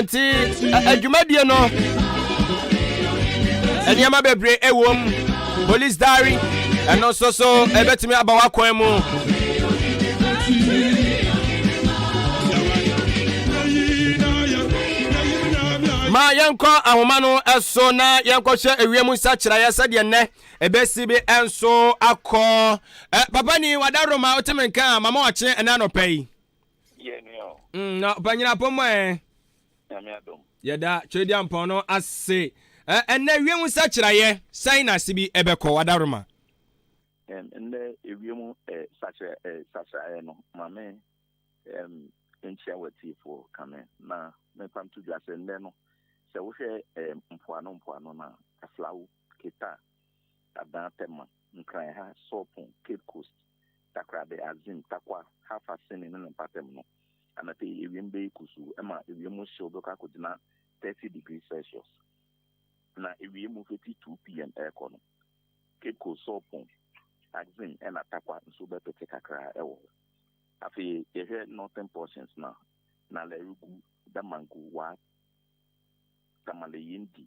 nti adwumadie no nneɛma bebree ɛwɔ mu police diary ɛno nso so ɛbɛtumi aba w'akwan mu ma yɛnkɔ ahoma no ɛso na yɛnkɔhyɛ ewiem nsakyerɛeɛ sɛdeɛ nnɛ ɛbɛsi bi ɛnso akɔ ɛ papa ni wadaroma wote me nka a mama wakye ɛna anɔpɛ yi Yɛ nua o. Mm, na ɔpanyin apɔmɔ ɛ. Nyame adom. Yɛda Twedia Mpɔn no ase. Ɛ ɛnɛ wiem nsakyerɛeɛ sɛn na ase bi ɛbɛkɔ Adaworoma? Ɛm ɛnɛ ewiem ɛ sakyerɛ ɛ sakyerɛeɛ no mame ɛm nkyia w'atiefoɔ kame na mepa nto dwa sɛ nnɛ no sɛ wohwɛ ɛm mpoano mpoano no a aflawo, keta, Adan Tema, Nkran ha, Sorpon, Cape Coast, Takoradi, Axim, Tarkwa, Hafa, Seme ne ne mpaatam no, anɔpa yi ewiem bɛyɛ kusuu, ɛma ewiem mu hyew bɛkɔ akogyina 30 degrees Celsius, na ewiem mu fiti 2 pm ɛrekɔ no, Cape Coast, Sorpon, Axim ɛna Tarkwa nso bɛpete kakra ɛwɔ hɔ. Afei yɛhwɛ northern portions no a, Nalerigu, Damangu, Waa, Tamale, Yindi,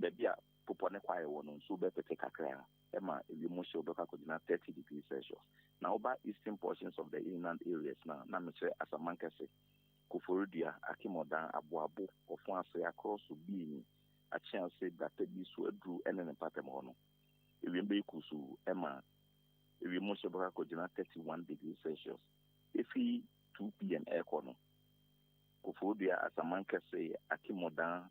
Baabi a bepɔ ne kwae wɔ no, nsu bɛpete kakraa ma ewiem hyew bɛkɔ akɔgyina thirty degrees Celsius. Na woba eastern portions of the inland areas no a, na mekyerɛ Asamankɛse, Koforidua, Akemudan, Aboabo, Ɔfoase, Akorɔso, Biini, Akyease, Gbatabi, Suaduru ne ne mpaatam hɔ no, ewiem bɛyɛ kusuu ma ewiem hyew bɛkɔ akɔgyina thirty one degrees Celsius. Efi two PM rekɔ no, Koforidua, Asamankɛse, Akemudan,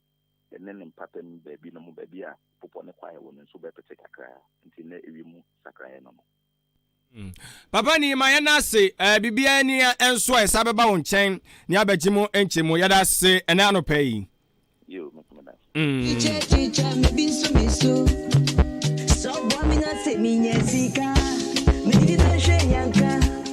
ne ne mpɔtam baabi no mu baabi a bepɔ no kwae wɔ no nso bɛpete kakra, nti nnɛ ewiem sakraeɛ no no. Mm. Papa ni ma yɛn ase ɛɛ eh, biribiara ni nso a ɛsa bɛba wo nkyɛn ne abɛgye mu nkyɛ mu yɛda ase ɛnɛ anɔpa yi. Yo, me kuma da. Mm. Teacher, teacher, me bi nso me so. So boa me na se me nya sika. Me di na hwe nyanka.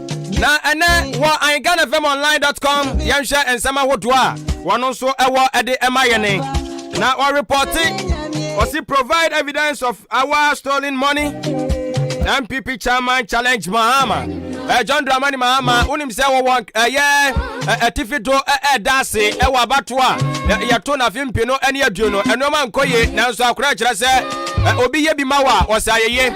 na ɛnɛ wɔ anghanafamonline.com yɛnhwɛ nsɛm ahodoɔ a wɔn nso ɛwɔ ɛde ɛma yɛne na wɔrepɔte ɔsi provide evidence of our stolen money npp chairman challenge mahama eh, john dramani mahama wonim sɛ wɔwɔ ɛyɛ atifi do ɛda ase ɛwɔ abato a yɛto nafe mpi no ɛne aduo no ɛnoɔma nkɔ ye nanso akorɛ kyerɛ sɛ obi yɛ bi ma wɔ a ɔsɛ ayɛye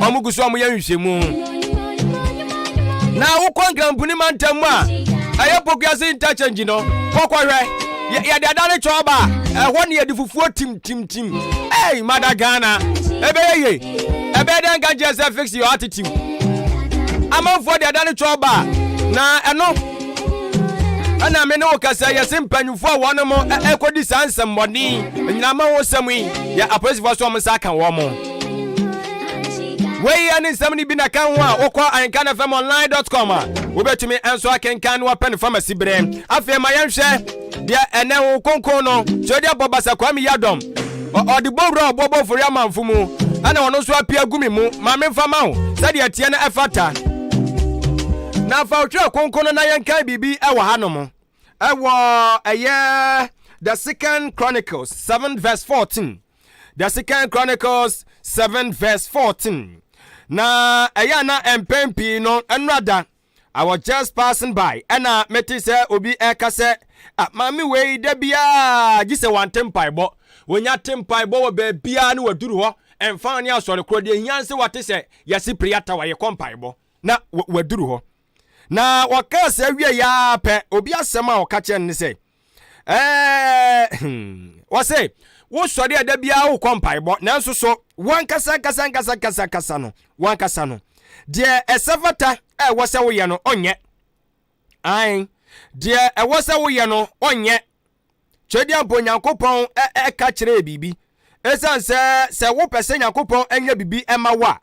wɔn gu so wɔn yɛ nhwehwɛmu na wokɔ nkramponi mantam mu a ɛyɛ pokuase interchange no kɔkɔhwɛ yɛde ada ne kyɛw ba ɛhɔ ne yɛde fufuo timtimtim ei mada ghana ɛbɛyɛ ye ɛbɛyɛ dɛ nka kyerɛ sɛ fix your attitude amanfoɔ de ada ne kyɛw ba na ɛno ɛna me ne wo kasa yɛse mpanyimfoɔ a wɔnom ɛkɔdi saa nsɛmmɔden nyinama wo sɛm yi yɛ apolisifoɔ so ɔmo nsa aka wɔn mo wei yɛ ne nsɛm no bi na ka ho a wokɔ ahenkanfmonline.com a wobɛtumi nso akenkan no wapɛ no famasi berɛ afei ma yɛnhwɛ deɛ ɛnɛ ho kronkron no sɛ ɔde abɔ basa kwame yadɔm ɔde bɔ wura a ɔbɔbɔ fori amanfo mu ɛna ɔno nso apia gu me mu ma memfa ma wo sɛdeɛ ɛteɛ no ɛfata na fa wotwerɛ kronkron no na yɛnkan biribi ɛwɔ ha nom ɛwɔ ɛyɛ the second chronicles 7 verse 14 the second chronicles 7 verse 14 na ɛyɛ a na mpɛn pii no ɛnora da I was just passing by ɛna mete sɛ obi ɛka sɛ ah, maame wei da biara gye sɛ wante mpaebɔ wɔnya te mpaebɔ wɔ baabiara ne waduru hɔ ɛmfa ne asɔre korɔ deɛ hia sɛ wate sɛ yɛse piriata wayɛkɔ mpaebɔ na waduru hɔ Na wɔkaa saa wieeɛ ara pɛ, obi asɛm a ɔka kyerɛ no ne sɛ, ɛɛ hmm, wɔse wosɔre a da biara wokɔ mpaebɔ nanso so wankasa ankasa ankasa ankasa ankasa no wankasa no deɛ ɛsɛ fata a ɛwɔ sɛ woyɛ no ɔnyɛ ae deɛ ɛwɔ sɛ woyɛ no ɔnyɛ Twedeɛmpo Nyankopɔn ɛka kyerɛɛ biribi. Ɛsiane sɛ sɛ wopɛ sɛ Nyankopɔn ɛnyɛ biribi ɛma wo a,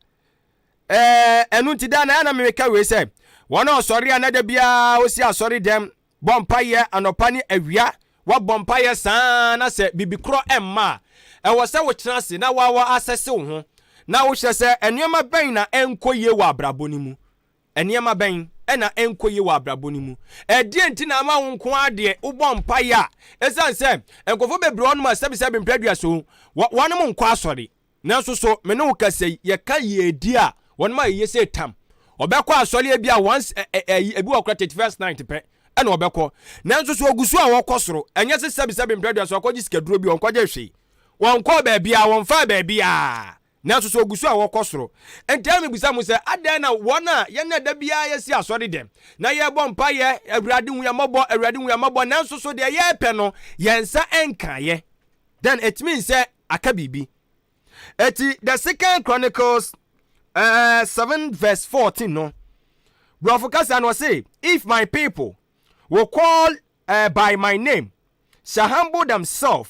ɛno nti daa na ɛyɛ na meka wei sɛ, wɔn a ɔsɔre a na da biara ɔsi asɔre dɛm, bɔ mpaeɛ anɔpa ne awia, wabɔ mpaeɛ saa na sɛ biribi korɔ ɛmma a, ɛwɔ sɛ wotena ase na wawa asɛse wo ho na wohwɛ sɛ nneɛma bɛn na ɛnkɔ yie wɔ abrabɔ no mu. Nneɛma bɛn na ɛnkɔ yie wɔ abrabɔ no mu? Ɛdeɛn nti na ama wo nko ara deɛ wobɔ mpaeɛ a, ɛsiane sɛ nkurɔfoɔ bebree wɔnom asɛbesɛbe mpɛ aduason, wɔnom nkɔ asɔre? Nanso so me ne wo kasa yi, yɛka yiedie a, wɔnom a ɛyɛ sɛ tam. Wɔbɛkɔ asɔre ebi a once ɛ ɛ ɛyi, ebi wɔ koraa thirty first night pɛ ɛna wɔbɛkɔ. Nanso so wɔgu so a wɔkɔ soro? Ɛnyɛ sɛ sɛbesɛbe mpɛ aduason, wɔakɔgye sikaduro bi, wɔnkɔgyee hwee, wɔnkɔɔ baabiara, wɔmfaa baabiara. Nanso sɛ wɔgu so a, wɔkɔ soro. Enti ɛma mibisa mo sɛ, adɛn na wɔn a yɛn na da biara yɛsi asɔre dɛm, na yɛbɔ mpaeɛ, Awurade hu yɛn mmɔbɔ, Awurade hu yɛn mmɔbɔ, nanso so deɛ yɛpɛ no, yɛn nsa nkaeɛ? Then it means sɛ aka biribi. Enti the second Chronicles uh, 7 verse 14 no, Borɔfo kasa no ɔse, if my people will call uh, by my name, shall humble themselves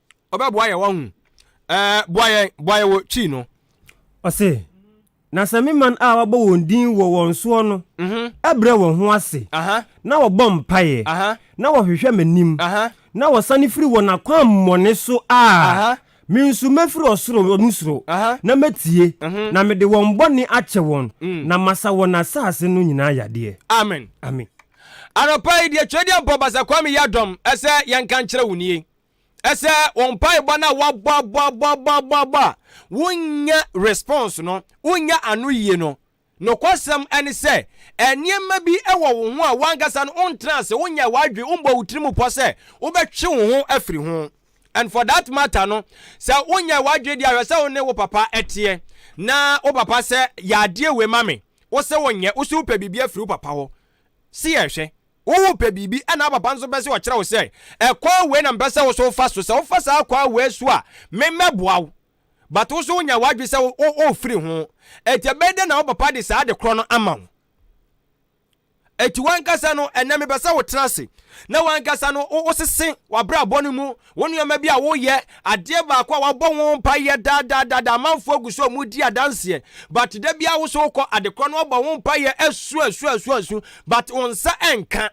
ɔbɛboa yɛn wɔn ho ɛɛ boa yɛn boa yɛn wɔ kyi no. Ɔse, Na sɛ me man a wɔabɔ wɔn din wɔ wɔn soɔ no mhm. brɛ wɔn ho ase na wɔbɔ mpaeɛ na wɔhwehwɛ m'anim na wɔsane firi wɔn akwammɔne so a, me nso mɛfiri ɔsoro no soro na mɛtie mhm. na mede wɔn bɔne akyɛ wɔn mm. na masa wɔn asase no nyinaa yadeɛ. Amen. Amen. Anɔpa yi deɛ Twɛdeɛ Mpɔ Basa Kwame Yadɔm ɛsɛ yɛnka nkyerɛ wo nie. ɛsɛ wɔn mpaebɔ no a wɔabɔabɔabɔabɔabɔ a wonyɛ response no wonyɛ ano yie no nokwasɛm ne sɛ nneɛma bi wɔ wo ho a wankasa no wontena ase wonyɛ w'adwe wombɔ wo tiri mu pɔ sɛ wobɛtwe wo ho afiri ho and for that matter no sɛ wonyɛ w'adwe de ahwɛ sɛ wo ne wo papa ɛteɛ na wo papa sɛ yɛ adeɛ wei ma me wo sɛ wonyɛ wo so wopɛ biribi afiri wo papa hɔ si yɛhwɛ Worepɛ biribi na wo papa nso pɛ sɛ ɔkyerɛ wo sɛ, Ɛkwan wei na mepɛ sɛ wo nso wofa so. Sɛ wofa saa kwan wei so a, me mɛboa wo. But wo nso wonya w'adwene sɛ worefiri ho. Enti ɛbɛyɛ dɛn na wo papa de saa ade korɔ no ama wo? Enti w'ankasa no, ɛnnɛ mepɛ sɛ wotena ase na w'ankasa no wosese w'abrabɔ no mu Wo nneɛma bi a woyɛ, adeɛ baako a wabɔ ho mpaeɛ daa daa daa daa, amanfoɔ gu so a wɔredi adanseɛ, but da biara wo so wokɔ adekorɔ no wabɔ ho mpaeɛ asu asu asu asu, but wo nsa ɛnka.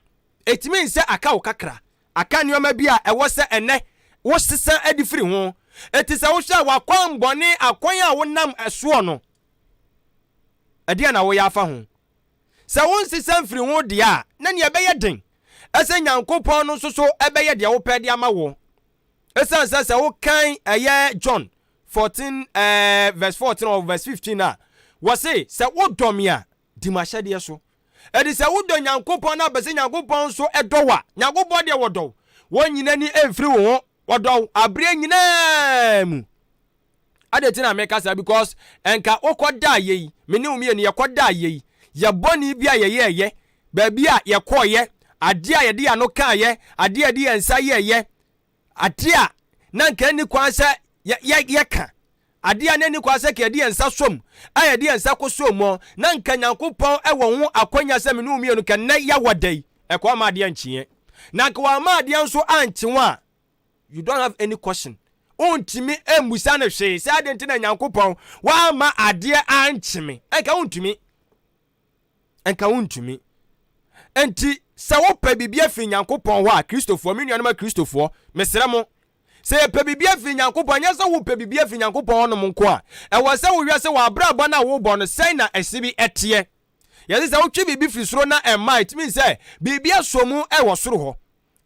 Ɛtumi nsɛ aka wo kakra. Aka nneɛma bi a ɛwɔ sɛ ɛnɛ wo sesa de firi ho. Enti sɛ wohwɛ a w'akwan bɔne, akwan a wonam ɛsoɔ no, ɛdeɛn na woyɛ afa ho? Sɛ wonsesa mfiri ho deɛ a, na nea ɛbɛyɛ den sɛ Nyankopɔn no nso so bɛyɛ deɛ wopɛ de ama wo. Esiane sɛ sɛ wokan ɛyɛ John 14 eh, verse 14 or verse 15 a, wɔse sɛ wodɔ me a, di m'ahyɛdeɛ so. Ɛde sɛ wodɔ Nyankopɔn na bɛ sɛ Nyankopɔn nso ɛdɔ wo a, Nyankopɔn deɛ wɔdɔ wo. Wɔnyina ni mfiri wo ho Wɔdɔ wo aberɛ nyinaa mu. Adɛn nti na meka saa? Because ɛnka wokɔdaa yɛ yi, me ne wo mmienu yɛkɔdaa yɛ yi, yɛ bɔne bi a yɛyɛɛyɛ, baabi a yɛkɔɔyɛ, adeɛ a yɛde yɛn ano kaeɛ, adeɛ a yɛde yɛn nsa yɛɛyɛ, adeɛ a na nka ɛnni kwan sɛ yɛka. Ade a na enni kwan sɛ yɛde yɛn nsa som a yɛde yɛn nsa koso mu na anka Nyankopɔn wɔ ho akwannya sɛ me ne wo mmienu nka nnɛ yɛawɔ da yi, ɛkɔ amma adeɛ ankyeɛ. Na anka wamma adeɛ nso ankye wɔn a, you don't have any question. Wontumi mmisa no hwee sɛ adɛn nti na Nyankopɔn wamma adeɛ ankye me. Anka wontumi. Nka wontumi. Enti, sɛ wopɛ biribi afiri Nyankopɔn hɔ a, Kristofoɔ, me nuanom Akristofoɔ, mesrɛ mo, sɛ yɛpɛ biribi afiri Nyankopɔn, ɛnyɛ sɛ wopɛ biribi afiri Nyankopɔn hɔnom nko a, ɛwɔ sɛ wohwɛ sɛ w'abrabɔ no a wobɔ no, sɛn na ɛse bi teɛ. Yɛse sɛ wotwe biribi firi soro na ɛmma a, it means sɛ biribi asɔ mu wɔ soro hɔ.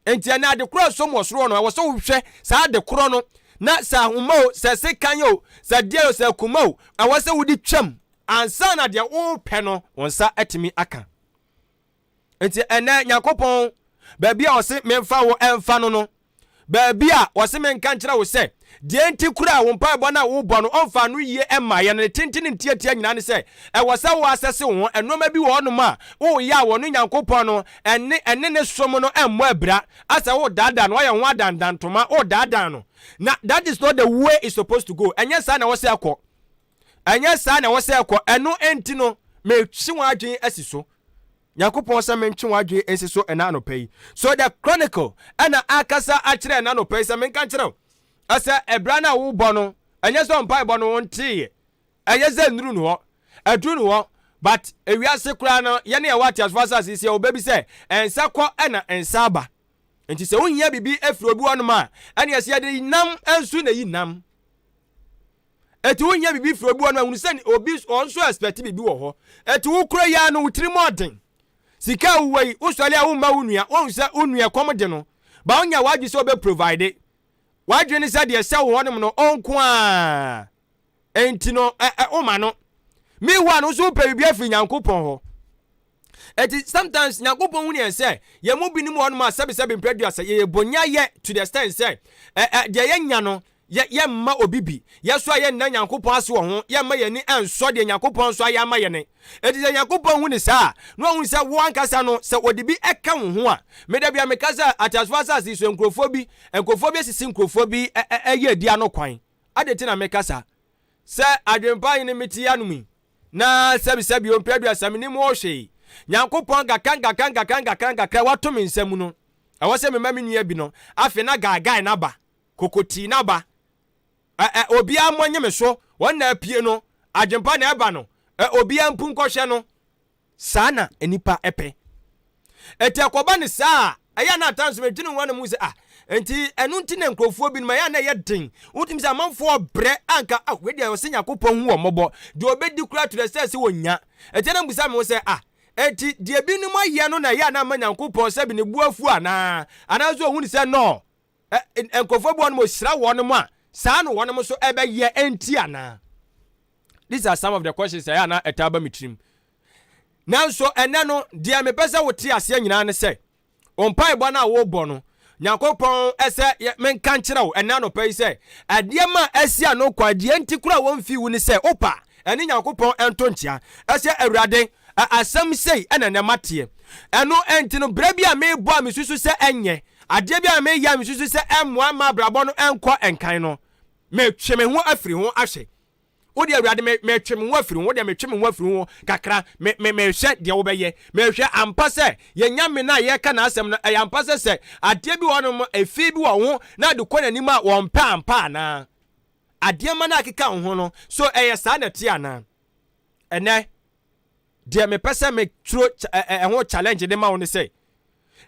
Enti ɛnɛ ade korɔ a ɛsom wɔ soro hɔ no, ɛwɔ sɛ wohwɛ saa ade korɔ no, na sɛ ahoma o, sɛ sekan o, sɛ deɛ o, sɛ akuma o, ɛwɔ sɛ wode twam ansa na deɛ wopɛ no wo nsa atumi aka. Enti ɛnɛ Nyankopɔn baabi a ɔse memfa wo ɛmfa no no, baabi a ɔse menka nkyerɛ wo sɛ Deɛ enti koraa a wo mpaebɔ no a wobɔ no ɔmfaa no yie mmaeɛ no, ne tenten ne ne tiatia nyinaa ne sɛ, ɛwɔ sɛ woasɛse wo ho. Nnoɔma bi wɔ hɔnom a woreyɛ a wɔne Nyankopɔn no ne ɛne ne som no mmɔ abira, asɛ woredaadaa no, woayɛ wo ho adandan ntoma, woredaadaa no. Na that is not the way it's supposed to go. Ɛnyɛ saa na ɛwɔ sɛ ɛkɔ. Ɛnyɛ saa na ɛwɔ sɛ ɛkɔ. Ɛno enti no, metwe w'adwene asi so. Nyankopɔn sɛ mentwe w'adwene nsi so ɛna anɔpa yi. So the Chronicle ɛna akasa akyerɛ ɛna anɔpa yi sɛ menka nkyerɛ wo ɛsɛ ɛbra no a wobɔ no ɛnyɛ sɛ ɔmpaebɔ no wonteeɛ ɛyɛ sɛ nnuru no hɔ ɛduru no hɔ but ewiase koraa no yɛne ɛwɔ ateasefoɔ asase yi sɛ ɔbɛ bi sɛ ɛnsa kɔ ɛna ɛnsa aba nti sɛ wohia biribi ɛfiri obi hɔ nom a ɛne ɛsɛ yɛde nam nso na yi nam Ɛti wo nyɛ bibi firi obi hɔ no ahunu sɛ obi ɔn nso expect bibi wɔ hɔ. Ɛti wo kura yɛ ano wo tiri mu ɔden. Sika a wowɔ yi wo sɔre a wo mma wo nua wɔn sɛ wo nua kɔm de no ba wo nya wadwe sɛ ɔbɛ provide. Wadwe ne sɛ deɛ ɛsɛ wo hɔ nom no ɔnko a ɛnti no ɛ ɛ wo ma no. Meanwhile no nso wo pɛ bibi afiri Nyankopɔn hɔ. Eti sometimes Nyankopɔn hunu yɛn sɛ yɛn mu binom wɔ hɔnom a sɛbesɛbe mprɛduasa yɛyɛ bonyayɛ to the extent sɛ ɛ ɛ deɛ yɛnya no yɛ yɛmma obi bi. Yɛ nso a yɛnna Nyankopɔn ase wɔ ho, yɛmma yɛn ani nsɔ deɛ Nyankopɔn nso ayɛ ama yɛn. Eti sɛ Nyankopɔn hu ne saa a, na ɔhu sɛ wo ankasa no sɛ ɔde bi ka wo ho a, me da bia meka sɛ ateasefoɔ asase yi so nkurɔfoɔ bi nkurɔfoɔ bi asisi nkurɔfoɔ bi ɛ ɛ ɛyɛ adi ano kwan. Adɛn nti na meka saa? Sɛ adwempa he ne mete anom yi, Na sɛbisɛ bio mpɛ aduasa menim wo hwee Nyankopɔn gaka ngaka ngaka ngakra ngakra wato me nsa mu no ɛwɔ sɛ mema me nua bi no afe na guy guy na ba koko tii na ba ɛ ɛ obia mmɔ nye me so wɔn na apue no adwenpa na ɛba no ɛ obia mpu nkɔhwɛ no Saa na nnipa pɛ. Enti ɛkɔba no saa a, ɛyɛ a na at times medwene ho a na mehu sɛ ah, enti ɛno nti na nkurɔfoɔ binom ɛyɛ a na ɛyɛ den. Wotumi sɛ amanfoɔ brɛ a anka ah, wei deɛ ɔsɛ Nyankopɔn hu wɔn mmɔbɔ. Deɛ ɔbɛdi koraa to the sɛ sɛ wɔnya. Enti na mebisa me ho sɛ ah, enti deɛ binom ayɛ no na ɛyɛ a na ama Nyankopɔn sɛbe ne bo afu anaa? Anaasɛ ɔhu no sɛ nɔɔ? nkurɔfoɔ bi wɔnom ɔhyira wɔnom a saa na wɔnom nso ɛbɛyɛ ɛnti anaa these are some of the questions ɛyɛ anaa ɛtaa ba me tirim nanso ɛnɛ no deɛ mepɛ sɛ wote aseɛ nyinaa ne sɛ ɔmpaebɔ no a wobɔ no nyankopɔn ɛsɛ menka nkyerɛ wo ɛnɛ anɔpa yi sɛ adeɛ ma asia no kɔ adeɛ nti kora wɔmfi wo ne sɛ wopa Ɛne Nyankopɔn ɛnto nkyea. Ɛsɛ Awurade, ɛ, asɛm sei ɛna ɛnɛ mateɛ. Ɛno ɛnti no, berɛ bi a merebɔ a mesusu sɛ ɛnyɛ, adeɛ bi a mereyɛ a mesusu sɛ ɛmmoa mma abrabɔ no ɛnkɔ nkan no, metwe me ho afiri ho ahwɛ. Wodeɛ Awurade, me, metwe me ho afiri ho, wodeɛ metwe me ho afiri ho kakra, me, me, mehwɛ deɛ wobɛyɛ. Mehwɛ ampa sɛ, yɛn Nyame no a yɛreka n'asɛm no, ɛyɛ ampa sɛ sɛ adeɛ bi wɔ hɔnom, efi bi wɔ ho na ɛde kɔ n'anim a, wɔmpɛ ampa anaa? Adeɛma no a ɛkeka wo ho no, so ɛyɛ saa na ɛteɛ anaa? Ɛnnɛ, deɛ mepɛ sɛ me turo ɛho challenge de ma wo ne sɛ,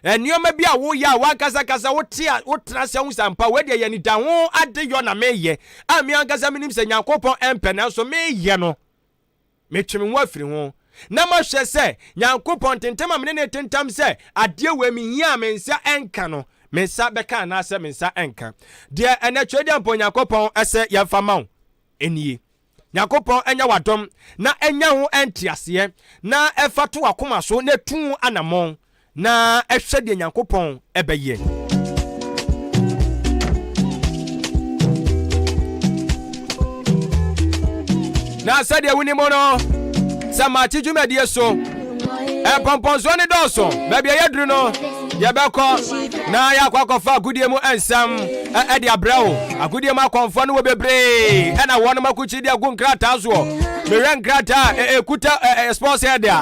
nneɛma bi a woyɛ a w'ankasa kasa wote a wotena ase ahu sɛ ampa wei deɛ yɛ nida ho adeyɔ na meyɛ a me ankasa menim sɛ Nyankopɔn ɛmpɛ nanso meyɛ no. Metwe me ho afiri ho na mahwɛ sɛ Nyankopɔn ntentam a me ne no retentam sɛ adeɛ wei mehia a me nsa nka no, me nsa bɛka anaasɛ me nsa nka. Deɛ ɛnɛ Twedeɛmpɔn Nyankopɔn sɛ yɛmfa ma wo nie. Nyankopɔn nyɛ w'adom na ɛnya ho nteaseɛ na ɛfa to w'akoma so na ɛtu ho anammɔn. na ɛhwɛ deɛ Nyankopɔn ɛbɛyɛ. na sɛdeɛ wonim no sɛ makye dwumadie so mpɔmpɔnsoɔ ne dɔɔso baabi ɛyɛ duru no yɛbɛkɔ na yɛakɔ akɔfa agodie mu nsɛm ɛde abrɛ wo agodie mu akɔmfoɔ no wɔ bebree ɛna wɔnom akokyideɛ gu nkrataa soɔ mehwɛ nkrataa ɛkuta sponsor de a